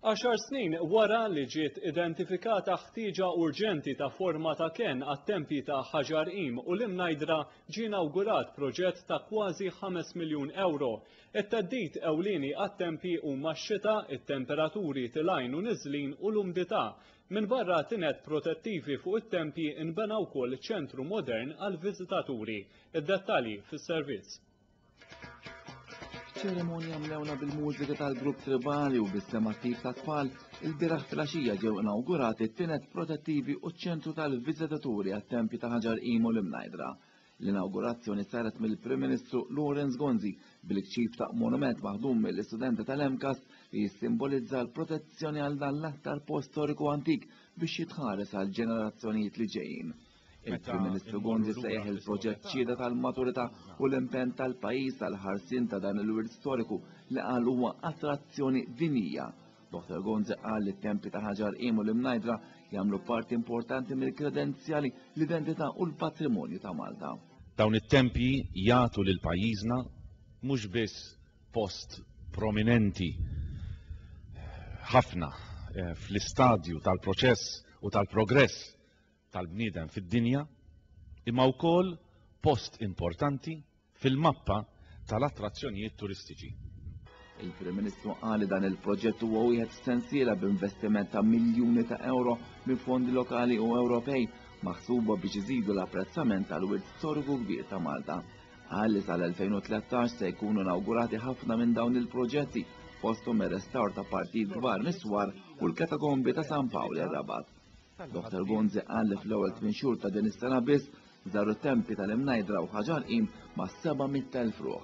Għaxar snin wara li ġiet identifikata ħtieġa urġenti ta' forma ta' kenn għat-tempji ta' Ħaġar Qim u l-Imnajdra ġie inawgurat proġett ta' kważi ħames miljun ewro. It-theddid ewlieni għat-tempji huma x-xita, it-temperaturi tilgħin u niżlin u l-umdità. Minbarra tined protettivi fuq it-tempji nbena wkoll ċentru modern għall-viżitaturi. Id-dettalji fis-servizz. Ċerimonja mlewna bil-mużika tal-grupp tribali u bis-sem attiv ta' tfal, il-biraħ filgħaxija ġew inawgurati t-tinet protettivi u ċ-ċentru tal-viżitaturi għat-tempji ta' Ħaġar Qim u l-Imnajdra. L-inawgurazzjoni saret mill-Prim Ministru Lawrence Gonzi bil-kċip ta' monument maħdum mill-istudenti tal-MCAS li jissimbolizza l-protezzjoni għal dan l-aktar post storiku antik biex jitħares għall-ġenerazzjonijiet li ġejjin. Il-Prim Ministru Bondi sejjaħ il-proġett ċieda tal-maturità u l-impenn tal-pajjiż għal ħarsien ta' dan il-wirt storiku li qal huwa attrazzjoni dinija. Dr. Gonzi qal li t-tempi ta' Ħaġar Qim u l-Imnajdra jagħmlu parti importanti mill-kredenzjali, l-identità u l-patrimonju ta' Malta. Dawn it-tempji jagħtu lil pajjiżna mhux biss post prominenti ħafna fl-istadju tal-proċess u tal-progress tal-bniedem fid-dinja, imma wkoll post importanti fil-mappa tal-attrazzjonijiet turistiċi. Il-Prim Ministru qal li dan il-proġett huwa wieħed f'sensiela b'investiment ta' miljuni ta' ewro minn fondi lokali u Ewropej maħsuba biex iżidu l-apprezzament tal-wirt storiku kbir ta' Malta. Qal li sal-2013 se jkunu nawgurati ħafna minn dawn il-proġetti fosthom ir-restawr ta' partijiet kbar mis-swar u l-katakombi ta' San Pawl ir-Rabat. Dottor Gonzi qal li fl-ewwel tmien xhur ta' din is-sena biss żaru t-tempji tal-Imnajdra u Ħaġarqim ma' 700,000 ruħ.